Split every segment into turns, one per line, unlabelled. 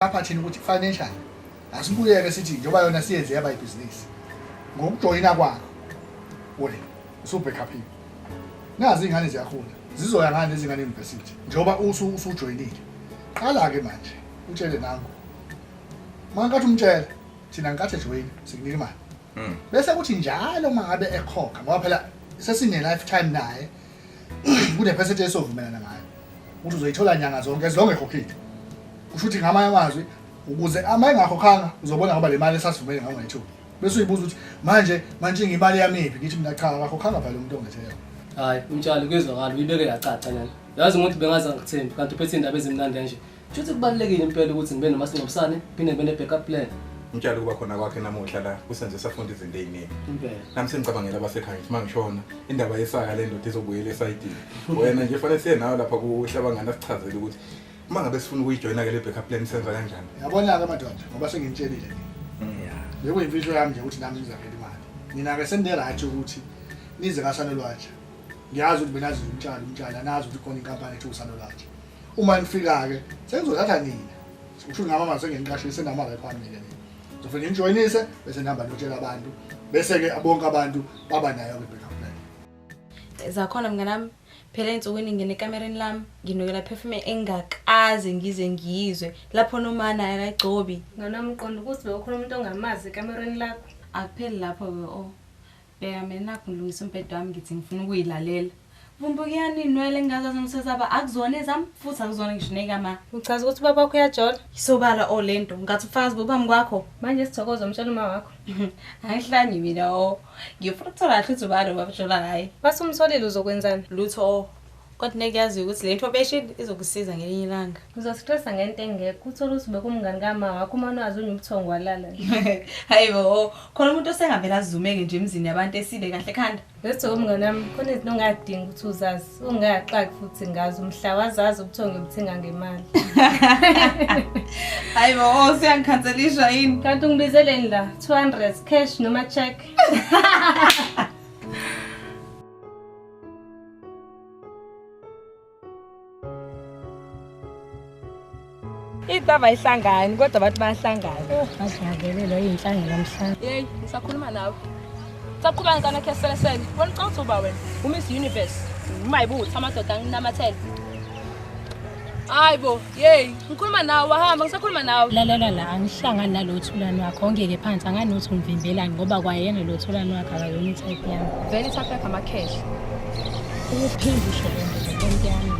aphathini ukuthi financial asibuyeke sithi njengoba yona siyenze yaba ibhizinisi ngokujoyina kwakho ule usubhekhaphile nazi iy'ngane ziyakhula zizoya ngani ezingane university njengoba usujoyinile qala-ke manje utshele nangu uma nkathi umtshela thina nkathi ejoyini sikunika imali hmm. bese kuthi njalo uma ngabe ekhokha ngoba phela sesine-lifetime naye kunephesethe esovumelana ngayo ukuthi uzoyithola nyanga zonke as long ekhokhile usho ukuthi ngamanye amazwi ukuze ama engakhokhanga uzobona ngoba le mali esasivumele ngayo ngayithuba bese uyibuza ukuthi manje manje ngimali yamiphi ngithi mina cha akakhokhanga phela umuntu ongethela hayi umtshalo
kuyezwakala uyibeke yacaca nani yazi umuntu bengaze angithembi kanti uphethe indaba ezimnandi kanje Shuthi kubalulekile impela ukuthi ngibe nomasingcwabisane phinde ngibe ne-backup plan. Ngitshela ukuba khona
kwakhe namuhla la kusenze safunda izinto eziningi. Impela. Nami sengicabangela
abasekhaya
ukuthi mangishona indaba yesaka le ndoda izobuyela esayidini. Wena nje fanele siye nawe lapha kuhlabangani asichazele ukuthi uma ngabe sifuna ukuyijoyina ke le backup plan senza kanjani. Yabona-ke madoda
ngoba sengimtshelile nje. Bekuyimfihlo yami nje ukuthi nami ngizakela imali. Nina-ke senine-right ukuthi nize kasanolwatsha. Ngiyazi ukuthi benazi umtshalo umtshalo anazi ukuthi khona inkampani ethi usanolwatsha. uma nifika ke sengizothatha nina usho ngama mase ngeniqashise nama la phambili nina ngizofike ngijoyinise bese ngihamba ngiyotshela abantu bese ke bonke abantu baba nayo ke backup plan zakhona mnganami
phela ensukwini ngene ekamereni lami nginokela perfume engakaze ngize ngizwe lapho nomana akagcobi nganami uqonda ukuthi
bewukhona umuntu ongamazi ekamereni lakho akupheli lapho ke
o oh. Bheka mina nakhu ngilungisa umbhede wami ngithi ngifuna ukuyilalela. Vumbuka iyaninwele ngingazazi ngisesaba akuzona ezami futhi akuzona ngisho nekama. Uchaza ukuthi ubaba wakho
uyajola? Isobala o lento
ngathi ufakazi bobami kwakho. Manje sithokoza umtshela
uma wakho. Angihlanyi
mina o. Ngifuna ukuthola kahle ukuthi ubani obaba jola ngaye. Masumsolile
uzokwenzani? Lutho o.
Kodwa ngeke yaziyo ukuthi lento obeshini izokusiza ngelinye ilanga. Uzosistressa ngento
engekho. Uthole ukuthi bekumngani kama wakho uma nwazi unye ubuthongo walala. Hayibo,
oh, khona umuntu osengavela azumeke nje emzini yabantu esile kahle ekhanda. Bese umngane wami
khona izinto ongadingi ukuthi uzazi. Ungaxaki futhi ngazi umhla wazazi ubuthongo obuthenga ngemali.
Hayibo, oh, siyangikhanselisha yini? Kanti ungibizeleni la 200
cash noma check?
Itava ihlangani kodwa abantu bayahlangana. Ngajabulele lo
inhlangano lomhlaba. Hey, ngisakhuluma
nawe. Saqhuba ngicana khe selesele. Wena ucanga uba wena uMiss Universe. Umayibuthi amadoda anginamathele. Hayibo. Yey, ngikhuluma nawe wahamba ngisakhuluma nawe. Lalela la angihlangani
nalo thulani wakho ongeke phansi anganothi ungivimbelani ngoba kwayena lo thulani wakhe akayona itype yami. Vele itype yakhe
amakhehla.
Ukuphinde usho le nto nto yami.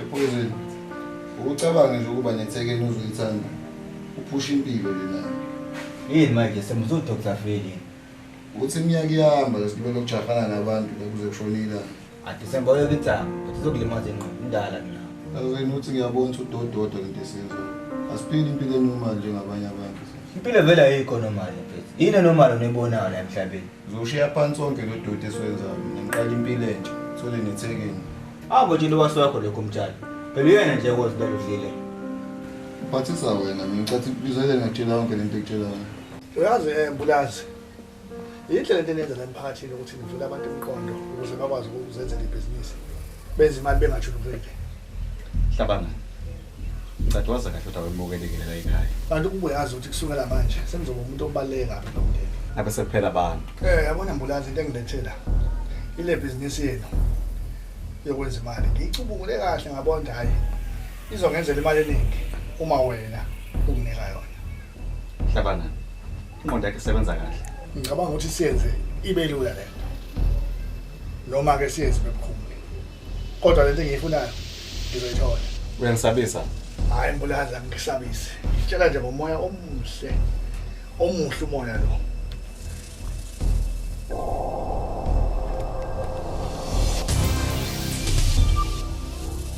Ephuzile. Ucabange nje ukuba nethekeni uzoyithanda. Uphusha impilo lena. Yini manje
semuzo Dr. Feli. Uthi
iminyaka ihamba lesibelo ukujahana nabantu bekuze kushonile. Adisemba uyoke
ithanga. Uzokulimaza ingqondo indala mina. Azweni uthi ngiyabona
ukuthi udododo lento esenzo. Asiphili impilo enormal njengabanye abantu. Impilo vele ayikho
normal mfethu. Yini enormal onibonayo la emhlabeni? Uzoshiya phansi wonke
lo doti esiwenzayo. Mina ngiqala impilo entsha. Thole nethekeni. Abo nje lowasi
wakho lokho mtshali. Phela uyena nje kwazi lelo dlile.
Phathisa wena, mina ngicathi izele ngakutshela yonke lento ekutshelayo. Uyazi eh
Mbulazi. Yinhle lento enenza la emphakathini ukuthi nivule abantu imiqondo ukuze bakwazi ukuzenzela ibhizinisi. Benze imali bengathi luvele.
Hlabangani. Ngicela wazi kahle ukuthi
awemukelekelela la
ekhaya.
Kanti kube
yazi
ukuthi kusukela
manje
senizoba umuntu obaleka kabi nomndeni. Abe
sekuphela abantu. Eh yabona mbulazi into
engilethela. Ile business yenu yokwenza imali. Ngicubungule kahle ngabona ukuthi hayi izongenzela imali eningi uma wena unginika yona. Hlabangani.
Inqondo yakhe isebenza kahle. Ngicabanga ukuthi
siyenze ibe lula lento. Noma ke siyenze bebukhulu. kodwa lento engiyifunayo ngizoyithola uyangisabisa
hayi mbulali
angisabise ngitshela nje ngomoya omuhle omuhle umoya lo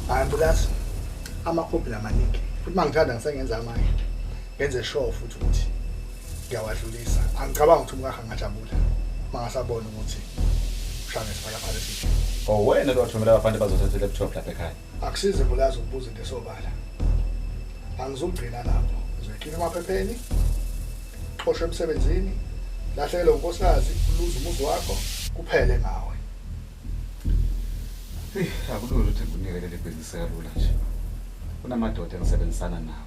hayi mbulali amakhophi lamaningi futhi mangithanda ngisengenza amanye ngenze sure futhi ukuthi ngiyawadlulisa angicabangi ukuthi umkakhe angajabula mangasabona ukuthi ushane siphalaphala esithi oh wena lowathumela
abafana bazothatha i-laptop lapha ekhaya akusize bulazi
ukubuza into esobala angizugcina lapho ngizoyikhipha emaphepheni xoshwe emsebenzini lahlekele unkosikazi uluze umuzi wakho kuphele ngawe
akulula ukuthi ngikunikele leli bhizinisi kalula nje kunamadoda engisebenzisana nawo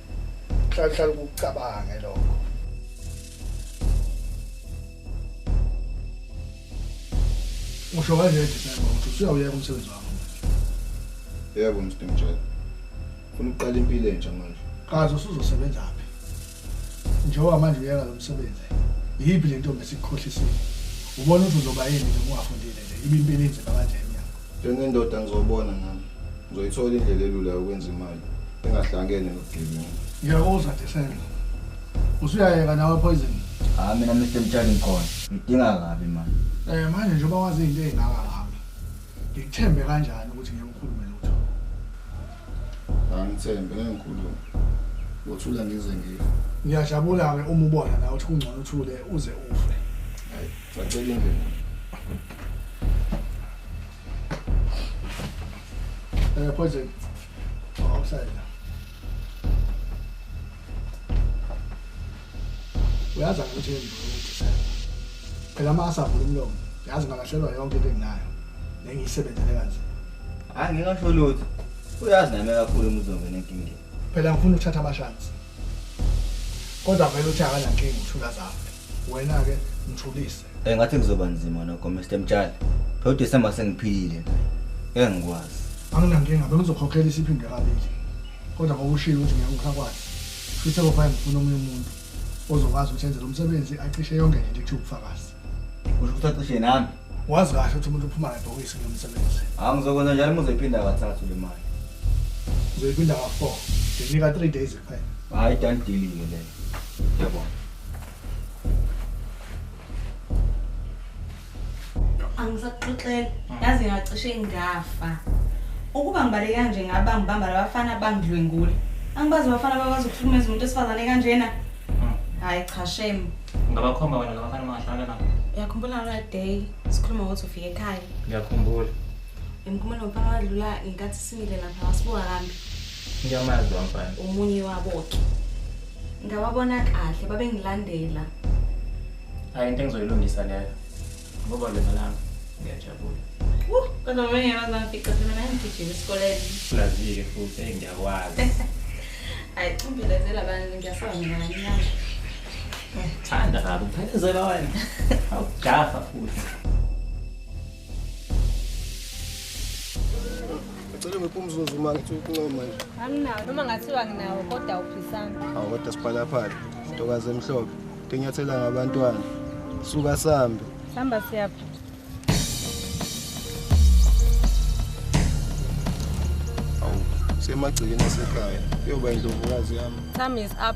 hlala ukucabange lokho usho kanjani December ukuthi usuyawuyeka umsebenzi wakho
yebo Mr Mtshela ufuna ukuqala impilo entsha manje kaze usuzosebenza
phi njengoba manje uyeka lo msebenzi yiphi le ntombi esikukhohlisile ubona ukuthi uzoba yini nje ungafundile nje ibe impilo inzima kanjena Njengendoda ngizobona
nami. Ngizoyithola indlela elula yokwenza imali engahlangene nobugebengu. Ngiyakuzwa Desela.
Usuyayeka nawe poison. Hayi ah, mina Mr
Mtshali ngikhona. Ngidinga kabi manje. Eh manje njengoba
wazi into ezingaka ngami. Ngikuthembe kanjani ukuthi ngeke ukhulume lutho?
Angithembe ngeke ngikhulume. Ngothula ngize ngife. Ngiyajabula ke
uma ubona na ukuthi kungcono uthule uze ufe. Hayi,
sacela indlela.
Uh, poison. Oh, outside. uyazi angithi engithi phela uma asavula umlomo yazi ngalahlelwa yonke into enginayo nengiyisebenzele kanje hayi ngingasho lutho
uyazi nami kakhulu umuzongena enkingeni phela ngifuna ukuthatha
amashansi kodwa vele uthi akanankinga uthula zami wena-ke mthulise Eh ngathi kuzoba
nzima nokho Mr Mtshali. Phela uDecember sengiphilile nje. Ngeke ngikwazi. Anginankinga
bengizokhokhela isiphinde kabili. Kodwa ngokushilo ukuthi ngeke ukhakwazi. Futhi akufani ngifuna omunye umuntu ozokwazi ukuthi enze lo msebenzi acishe yonke into ethi ubufakazi. Usho ukuthi acishe
nami. Wazi kahle ukuthi umuntu
uphuma ngebhokisi kulo msebenzi. Hawu ngizokwenza njalo uma
uzoyiphinda kathathu le mali. Uzoyiphinda
ka-4. Nginika 3 days kuphela. Hayi dandelile
leyo. Yabona.
angisaxoxela hmm. yazi ngacishe ngafa ukuba ngibale kanje ngaba ngibamba labafana bangidlwengule angibazi abafana bakwazi ukuhlukumeza umuntu esifazane kanjena hmm. hayi cha shame ngabakhomba wena
labafana mangahlala nabo uyakhumbula ngala
day sikhuluma ngokuthi ufike ekhaya ngiyakhumbula
ngimkhumula
ngomfana wadlula ngenkathi simile lapha wasibuka kambi Ngiyamazi
wamfana. Umunye wabo ke.
Ngawabona kahle babengilandela.
Hayi into engizoyilungisa leyo. Ngoba lena lami ngiyajabula. Uh, kodwa
mina ngiyawazi bamfica phela mina ngigijima esikoleni. Ulazike futhi
hey ngiyakwazi.
Hayi umbelezela abantu ngiyasaba mina ngiyama.
Thanda kabi, phela zela wena. Awujafa futhi.
Ngicela ngiphe umzuzu uma ngithi ukuncoma nje. Anginawo noma ngathiwa
nginawo kodwa uphisana. Awu kodwa siphalaphala.
Ntokazi emhlophe. Tinyathela ngabantwana. Suka sambe. Samba siyapha. Awu semagcikeni asekhaya. Kuyoba indlovukazi yami. Time is up.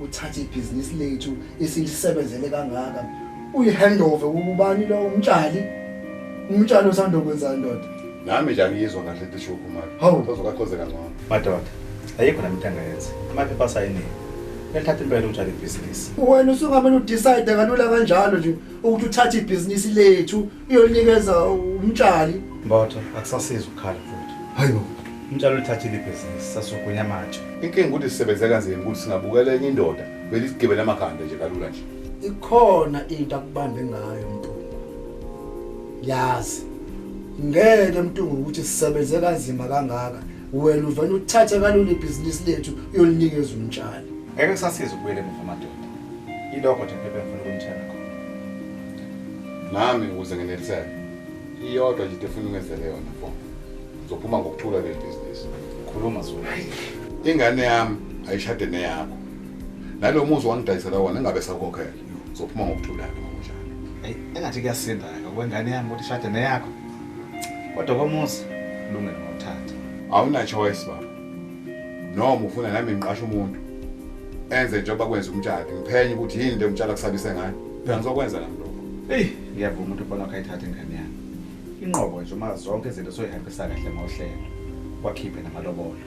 uthathe ibhizinisi lethu esilisebenzele kangaka uyihandove kubani lo umtshali umtshali osanda kwenza ndoda nami nje angiyizwa
kahle into eshiwo khumalo Hawu. uzokakhoze kangcono madoda
ayikho nami into engayenza amaphepha asayiniwe elithatha impela utshale ibhizinisi wena usungamane
udecide kalula kanjalo nje ukuthi uthathe ibhizinisi lethu iyonikeza umtshali mbotho
akusasizi ukukhala futhi hayi bo
umtshali ulithathile
ibhizinisi sasugunya amatshe inkinga ukuthi sisebenze
kanzima ukuthi singabukela enye indoda belisigibele amakhanda nje kalula nje ikhona
into akubambe ngayo mntungu yazi ngeke mntungu ukuthi sisebenze kanzima kangaka wena uvele uthathe kalula ibhizinisi lethu uyolinikeza umtshali ngeke kusasiza
ukubuyela emuva amadoda ilokho nje phephe ngifuna ukumtshela
nami ukuze ngeneliseke iyodwa nje efuna ungenzele yona fo ngizophuma ngokuthula kule bhizinisi khuluma zulu
ingane
yami ayishade neyakho nalo muzi wangidayisela wona engabe sakhokhela ngizophuma ngokuthula-ke ngokunjalo eyi engathi
kuyasinda-ke okwengane yami ukuthi ishade neyakho kodwa komuzi kulungele ngokuthatha awuna-choice
baba noma ufuna nami ngiqashe umuntu enze njengoba kwenza umtshali ngiphenye ukuthi yini le umtshali akusabise ngayo phela ngizokwenza nami lokho eyi ngiyavuma
umuntu ubona wakho ayithathe ingane yami inqobo nje uma zonke izinto soyihambisa kahle ngohlelo wakhiphe namalobolo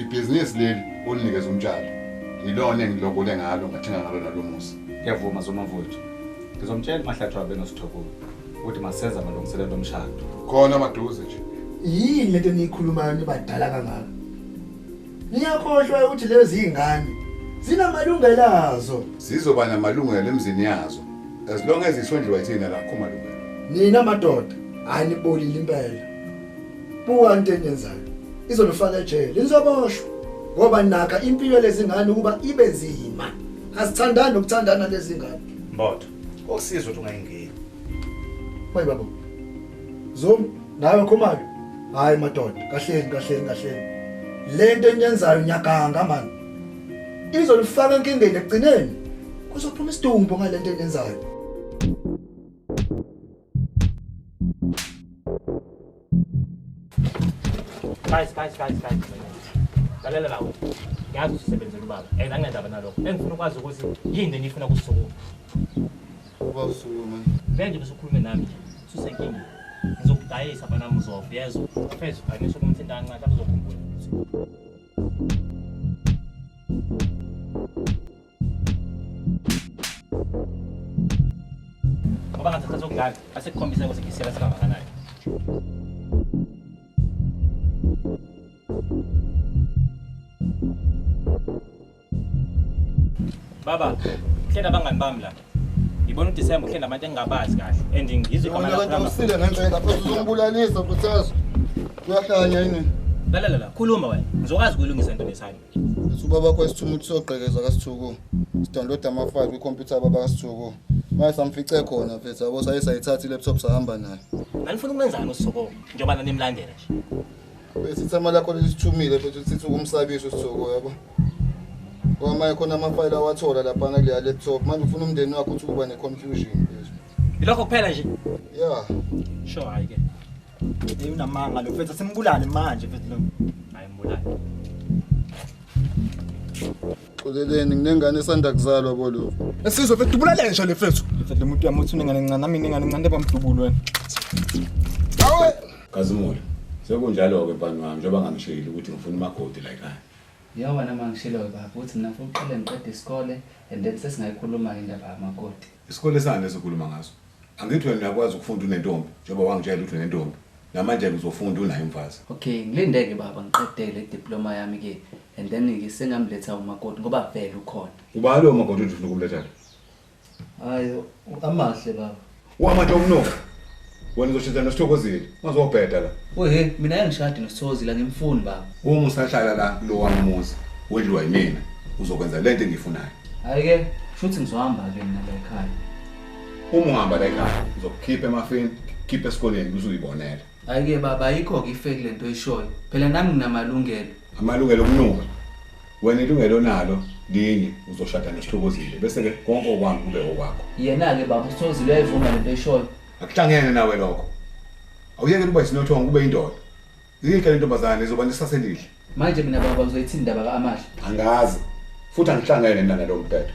ibhizinisi leli olinikeza umtshali yilona engilobole ngalo ngathenga ngalo nalo musa ngiyavuma zomavuthu
ngizomtshela umahlathi wabe nosithokulo ukuthi masenze amalungiselelo omshado khona maduze
nje yini lento
eniyikhulumayo nibadala kangaka niyakhohlwa ukuthi lezi ingane zinamalungelo azo zizoba namalungelo
emzini yazo as long as isondliwa yithina lakho malungelo nina madoda
anibolile impela buka into eniyenzayo izonifaka ejele nizoboshwa ngoba nakha impilo lezingane ukuba ibe nzima asithandani nokuthandana lezingane mbotho
Osizwe ukuthi ungayingeni.
Mayi baba. Zoom nawe khomake. Hayi madoda, kahleni kahleni kahleni. Lento enyenzayo nyaganga manje. Izolifaka enkingeni ekugcineni. Kuzophuma isidumbu ngalento enyenzayo.
Guys, guys, guys, guys. Lalela lawo. Ngiyazi usisebenzela ubaba. And angendaba nalokho. Engifuna ukwazi ukuthi yini enifuna kusukuma.
Uba usukuma. Manje usukhulume
nami nje. Susenkingeni. Ngizokudayisa bana muzofa. Yezwa. Phezulu kanisho kumthinta kancane lapho uzokhumbula. ngoba ngathi sasokudlala asekukhombisa ukuthi ngisela sikangakanani baba hle nabangani bami la ngibona udisemba uhle nabantu engingabazi kahle and ngizwe igama Wena kanti lakho usile ngendlela
phela uzombulalisa Buthazo. Uyahlanya yini? lalela la khuluma
wena ngizokwazi ukuyilungisa into nesani Subaba kho isithumu
ukuthi sogqekeza kaSithuku. Sidownload ama file kwi computer baba kaSithuku. Maye samfice khona mfethu yabo saye sayithatha laptop sahamba naye. Nanifuna ukwenzani
uSithuku njengoba nanimlandela nje? Bese ithama
lakho lisithumile futhi sithi ukumsabisa uSithuku yabo. Wamaye khona ama file awathola lapha na kule laptop. Manje ufuna umndeni wakho ukuthi uba ne confusion. Ilokho kuphela nje?
Yeah.
Sho hayi
ke. Hey
unamanga lo mfethu simbulale manje mfethu
lo.
Hayi mbulale. Xoleleni nginengane esanda kuzalwa bolo. Esizwe mfethu dubulale
nje le mfethu. Mfethu lo muntu uyamuthi unengane encane nami ningane encane bamdubulo wena.
Awe Kazimula.
Sekunjalo ke bani wami njengoba ngangishilo ukuthi ngifuna umakoti la ekhaya. Yabona uma
ngishiloyo baba ukuthi mina ngifuna uqale ngiqede isikole and then sesingayikhuluma-ke indaba yamakoti Isikole sani lesi
okhuluma ngaso? Angithi wena uyakwazi ukufunda unentombi njengoba wangitshela ukuthi unentombi. Namanje-ke uzofunda unaye umfazi. Okay ngilinde-ke
baba ngiqede le diploma yami-ke and then-ke sengamletha umakoti ngoba vele ukhona. Ubani lowo makoti othi
ufuna ukumletha la? Hhayi
u-Amahle baba. U-Amahle umnumbi?
Wena uzoshintha nosithokozile. Ungazobheda la. Wehe, mina angishadi
nosithokozile angimfuni baba. Uma usahlala la
kulo wami umuzi, wedliwa yimina. Uzokwenza lento engiyifunayo. Hayi ke,
shuthi ngizohamba ke mina la ekhaya. Uma
uhamba la ekhaya, ngizokukhipha emafini, khipha esikoleni kuze uyibonele. Hayi ke baba
ayikho ke ifeki lento oyishoyo. Phela nami nginamalungelo. Amalungelo okunuka.
Wena ilungelo onalo linye uzoshada noSithokozile bese ke konke okwami kube okwakho. Yena ke baba uSithokozile
uyayivuma lento eshoyo. Akuhlangene nawe
lokho. Awuyeke ukuba isinothongo kube indoda. Yinhle le ntombazane izoba nesase elihle. Manje
mina baba uzoyithini indaba ka-Amahle? Angazi.
Futhi angihlangene mina nalo mthetho.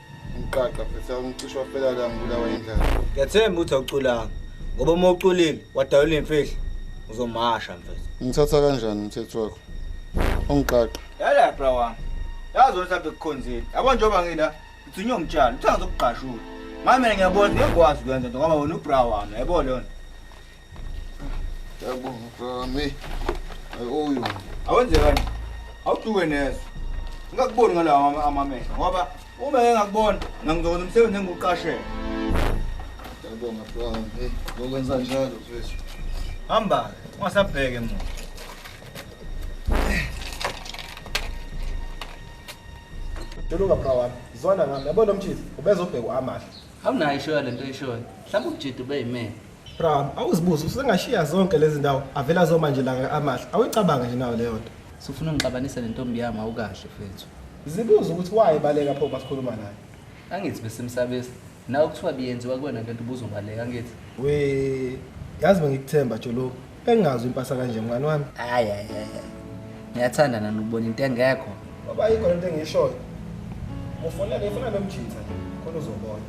Umqaqa phetha umcishi wafela la ngibulawa indlala. Ngiyathemba ukuthi
awuculanga ngoba uma uculile wadalula imfihlo uzomasha mfethu. Ngithatha kanjani
umthetho wakho? Ungiqaqa. Yala bra
wami. Yazi wena mhlawumbe kukhonzile. Yabo njengoba ngila ngithunywe umtshalo, uthanga zokugqashula. Manje mina ngiyabona ngiyakwazi ukwenza into ngoba wena ubra wami, yabo lona.
awenzekani
awuduke neso ngingakuboni ngalawa amamehlo ngoba uma engakubona nangizokwenza umsebenzi engiwuqashele Ngiyabonga
bro. Hey, ngokwenza njalo mfethu. Hamba,
ungasabheke muntu.
Tolunga bra wami, zwana ngami. Yabona umthizi, ubezobheka uAmahle. Awunayo ishoyo lento
eshoyo. Mhlawumbe uJidi ube yimena. Bram, awuzibuze
usengashiya zonke lezi ndawo avela zoma nje langa amahle. Awuyicabange nje nawo leyo nto. Sufuna ungixabanisa
nentombi yami awukahle fethu. Zibuze ukuthi
wayebaleka pho basikhuluma naye. Angithi
besimsabisa. Nawe kuthiwa biyenziwa kuwena lento ubuzobaleka angithi. We
yazi bengikuthemba jolo. Bengazi impasa kanje mngani wami. Hayi hayi hayi.
Ngiyathanda nani ukubona into engekho. Baba yikho lento
engishoyo. Ufuna le funa lomjitha khona uzobona.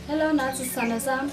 Hello Nathi sana sami.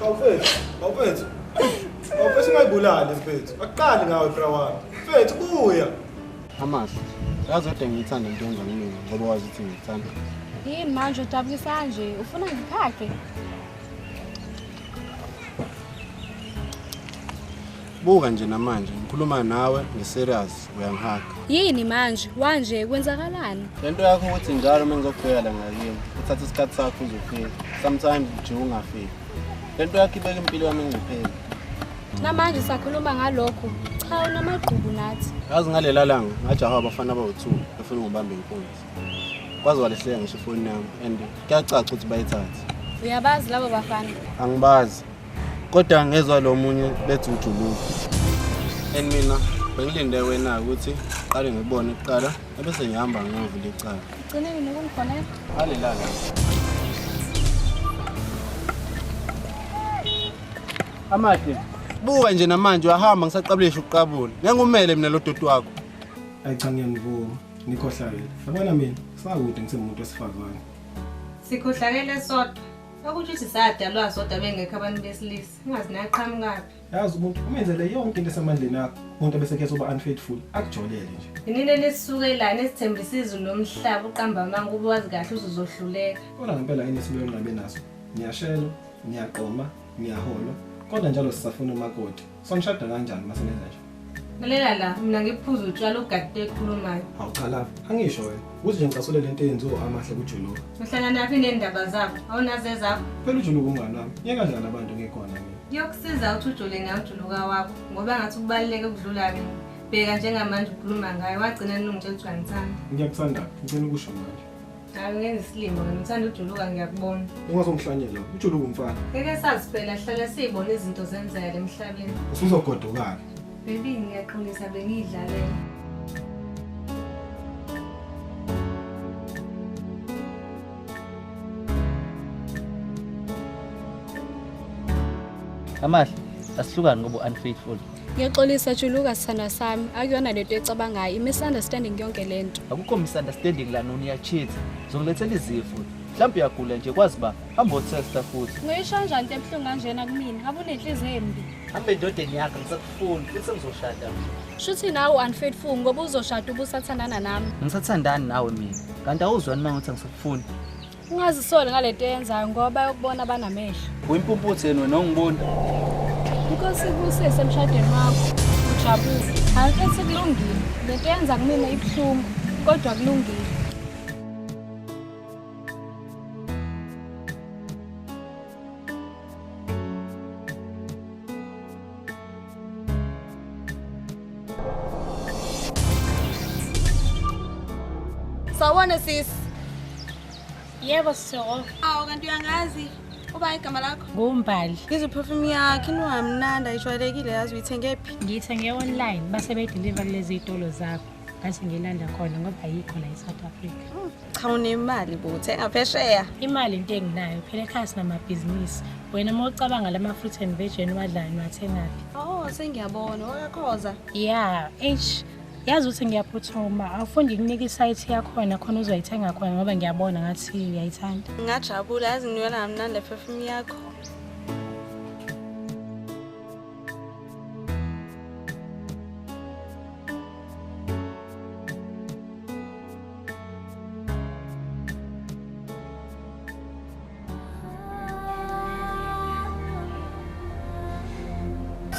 Bawufethu, bawufethu. Bawufethu ungayibulali mfethu. Akuqali ngawe bra wami. Mfethu buya. Hamas,
yazi kodwa ngiyithanda into yenza kumina ngoba wazi ukuthi ngiyithanda. Yini manje
udabukisa nje? Ufuna ngiphage?
Buka nje namanje ngikhuluma nawe ngiserious uyangihaga. Yini manje?
Wanje kwenzakalani? Lento yakho ukuthi
njalo uma ngizokubheka la ngakini uthatha isikhathi sakho uzofika. Sometimes nje ungafiki. Lento yakho ibeka impilo yami engcupheni. Namanje
sakhuluma ngalokho. Cha unamagqubu nathi. Yazi ngalela langa
ngajaha abafana abawu2 befuna ngibambe inkunzi. Kwaze walehleka ngisho ifoni yami and kuyacaca ukuthi bayithathe. Uyabazi labo
bafana? Angibazi.
kodwa ngezwa lo munye bethi ujuluka and mina bengilinde wena ukuthi qale ngibone kuqala ebese ngihamba ngiyovula icala ugcineni
nokungifonela alelala
amahle buka nje namanje uyahamba ngisaqabulisha ukuqabula ngengumele mina lo doti wakho ayi cha
ngiyangivuma nikhohlakele yabona mina sakude ngisemuntu wesifazane sikhohlakele
sodwa Sakuthi uthi sadalwa sodwa bengekho abantu besilisa. Ungazi naqhamukaphi. Yazi umuntu umenzele
yonke into esemandleni akho. Umuntu abesekhe soba unfaithful akujolele nje. Inini lesisukelana
esithembisa izulu lomhlaba uqamba amanga ube wazi kahle uzozohluleka. Kona ngempela yini
esibuye nqabe naso. Ngiyashelo, ngiyaqoma, ngiyaholwa. Kodwa njalo sisafuna umakoti. Songishada kanjani uma senenza nje? Lalela la,
mina ngiphuza utshwala ugadile ekhulumayo. Hawu cha love, angisho
wena. Kuze nje ngicasule lento eyenziwa amahle kujuluka. Uhlangana naphi nendaba
zakho? Awunazi ezakho? Phela ujuluka umngane wami.
Yeka njani abantu ngikhona mina. Kuyokusiza ukuthi ujule
nawe ujuluka wakho ngoba ngathi kubaluleke ukudlula mina. Bheka njengamanje ukhuluma ngayo wagcina nilungitshela ukuthi wangithanda. Ngiyakuthanda, ngicela
ukusho manje. Angenzi
isilima, ngithanda ujuluka ngiyakubona. Ungazongihlanyela,
ujuluka umfana. Ngeke sazi phela
hlala siyibona izinto zenzeka emhlabeni. Usuzogodukana.
Baby
ngiyaqinisa bengiyidlalela.
Amahle, asihlukani ngoba unfaithful. Ngiyaxolisa
juluka sithandwa sami, akuyona lento ecabangayo, i-misunderstanding yonke lento. Akukho misunderstanding
la noni yachitha. Zongilethela izifo. Mhlawumbe uyagula nje kwazi ba
hamba otesta
futhi.
Ngoyisho kanjani into
ebuhlungu
kanjena
kumina?
Ngabe
unenhliziyo embi.
Hambe
endodeni yakho ngisakufuni futhi sengizoshada manje. Shuthi nawe
unfaithful ngoba uzoshada ubusathandana nami. Ngisathandani nawe
mina. Kanti awuzwani mangithi angisakufuni. Ungazisoli
ngalento eyenzayo ngoba yokubona banamehlo. Uyimpumputhe yena wena
ongiboni. Inkosi
ibusise emshadweni wakho. Ujabule. Hayi mfethu kulungile. Lento yenza kumina ibuhlungu kodwa kulungile.
Sawona sis.
Yebo sisoko. Awu kanti uyangazi
uba igama lakho? Ngumbali. Ngizwe
perfume yakhe
inwamnandi ayijwayelekile yazi uyithenge phi? Ngiyithenge online
base bedeliver lezi zitolo zakho. Ngathi ngilanda khona ngoba ayikho la eSouth Africa. cha unemali
bo thenga phesheya imali into enginayo
phela ekhaya sinamabhizinisi wena uma ucabanga lama fruit and veg eniwadlayo niwathengaphi oh sengiyabona
wakakhoza ya eish
yazi ukuthi ngiyaphuthuma awufuni ngikunika isayithi yakhona khona uzoyithenga khona ngoba ngiyabona ngathi uyayithanda ngingajabula yazi
ngiyona kamnandi ephefumi yakho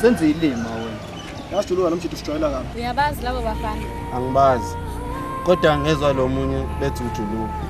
senze ilima wena yasijuluka nomjithu
sijwayela kabi uyabazi labo bafana
angibazi
kodwa ngezwa lo munye bethi ujuluka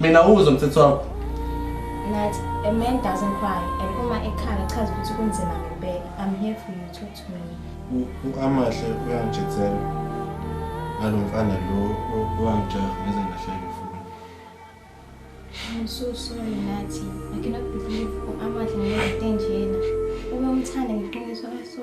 Mina uzo mthetho
wakho. Nathi
a man doesn't cry and uma ekhala chaza ukuthi kunzima ngempela. I'm here for you talk to me. Uamahle
uyangijethela. Ngalo mfana lo owangijaha ngeze ngahleka futhi. I'm
so sorry Nathi. I cannot believe uamahle ngeke nje yena. Uma umthanda ngiqiniso so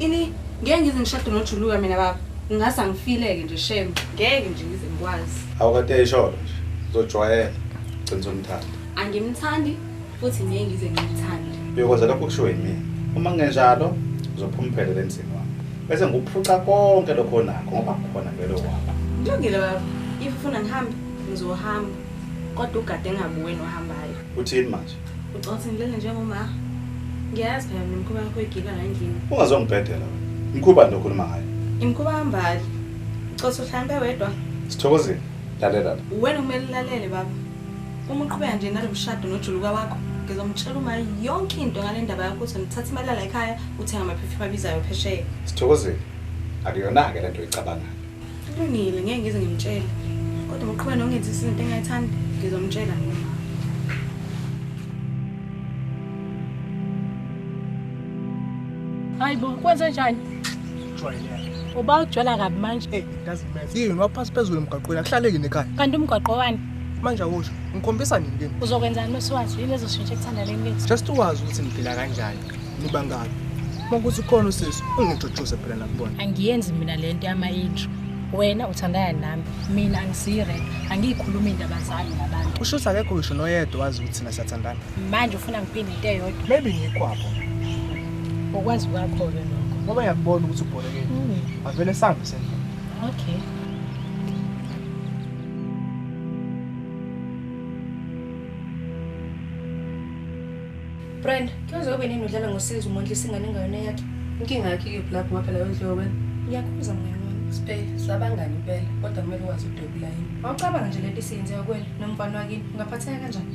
Ini ngeke ngize ngishade nojuluka mina baba. Ngingase angifileke nje shem. Ngeke nje ngize ngikwazi. Awukade isholo
nje. Uzojwayela. Gcina umthanda. Angimthandi
futhi ngeke ngize ngimthande. Uyokwenza lokho kushiwo
yimina. Uma kungenjalo uzophuma uphelele emzini wami. Bese ngikuphuca konke lokho onakho ngoba khona vele waba. Kulungile baba.
If ufuna ngihambe ngizohamba. Kodwa ugade ngabuwe nohambayo. Uthini manje?
Ucothe ngilele
njengoma. Ngiyazi phela mina umkhuba yakho igila la endlini. Ungazongibhedela wena.
Mkhuba nto okhuluma ngayo. Imkhuba hambali.
Ucothe uhlambe wedwa. Sithokozile.
Lalela la. Wena kumele ulalele
baba. Uma uqhubeka nje nalo mshado nojuluka wakho, ngizomtshela uma yonke into ngale ndaba yakho ukuthi ngithatha imali yala ekhaya uthenga amaphepha abizayo phesheya. Sithokozile.
Akuyona-ke le nto oyicabangayo.
Kulungile ngeke ngize ngimtshele.
Kodwa
uqhubeka nokungenza izinto engayithandi ngizomtshela mina. Hayi bo, kwenze njani? Jwayeleke. Uba ujwala kabi manje. Hey, doesn't matter. Yini waphasi
phezulu emgaqweni akuhlaleki nekhaya. Kanti umgaqo wani?
Manje awusho,
ngikhombisa nini kimi? Uzokwenzani mesiwazi yini
ezoshintsha ekuthandaneni kwethu? Just wazi ukuthi ngiphila
kanjani. nibangani makuthi khona usisi ungiduduse phela nakubona angiyenzi mina le nto
yama-intro wena uthandana nami mina angisiyi-red angiyikhulumi indaba zami nabantu usho ukuthi akekho ngisho noyedwa
wazi ukuthi thina siyathandana manje ufuna ngiphinde
into eyodwa maybe ngikwapho ngokwazi kwakho-ke lokho ngoba yakubona ukuthi
ubholekeni Mm, avele sambe sendlela okay
Brenda, kuyoze ube nini udlala ngosizi umondlisa ingane engayona yakhe? Inkinga yakhe ikephi
lapho ngapha layo ndliwa wena? Ngiyakhuza mngane wami.
Spe, sabangani
impela, kodwa kumele wazi udwebula yini. Awucabanga nje lento
isiyenziwa kuwena nomfana wakini, ungaphatheka kanjani?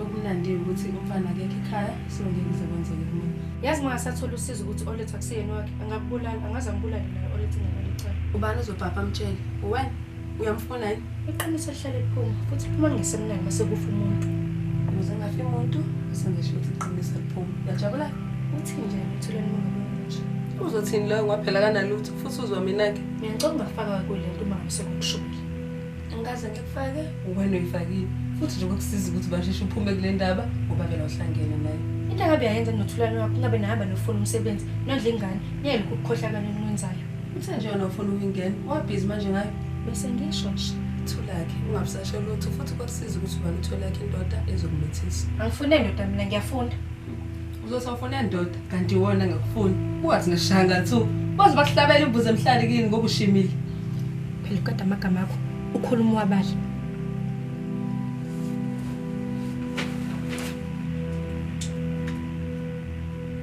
Okumnandi
ukuthi umfana akekho ekhaya, so ngeke kuze kwenzeke kumina. Yazi uma ngasathola
usizo ukuthi oletha kusiyena wakhe, angakubulala, angaze angibulale naye oletha ingane yalicala. Ubani uzobhabha amtshele?
Uwena? Uyamfuna yini? Iqiniso lihlale liphuma
futhi liphuma ngesemnani mase kufa umuntu. Ukuze ngafi
umuntu sengisho ukuthi iqiniso liphuma. Uyajabula? Uthini nje
uthuleni umuntu nje? Uzothini loyo
kwaphela kanalutho futhi uzwa mina-ke. Mina ngicela ungafaka
kule nto uma ngise kukushubile. Angikaze
ngikufake. Wena uyifakile. Futhi nje kwakusiza ukuthi basheshe uphume kule ndaba ngoba vele uhlangene naye. Into angabe yayenza
nothulani wakho ngabe nahamba nofuna umsebenzi nondla ingane niyelokhu ukukhohlakala enwenzayo. Uthe nje yona ufuna
ukungena, wabhizi manje ngayo. Bese ngisho
nje. Thulakhe, ungabusashe
lutho futhi kwakusiza ukuthi ubani utholakhe indoda ezokumethisa. Angifune ndoda mina
ngiyafunda. Uzothi awufune
ndoda kanti iwona ngakufuni. Ungathi ngishanga thu. Baze bakuhlabela imbuzi emhlali kini ngoba ushimile. Phela
uqeda amagama akho. Ukhuluma wabala.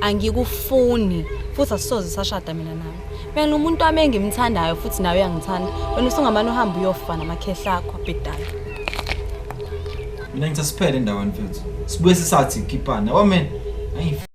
angikufuni futhi asisoze sashada mina nawe mina umuntu wami engimthandayo futhi nawe uyangithanda wena usungamane uhambe uyofa namakhehla akho abhedayo
mina ngithe siphele endaweni mfethu sibuye sisathi khipana wamena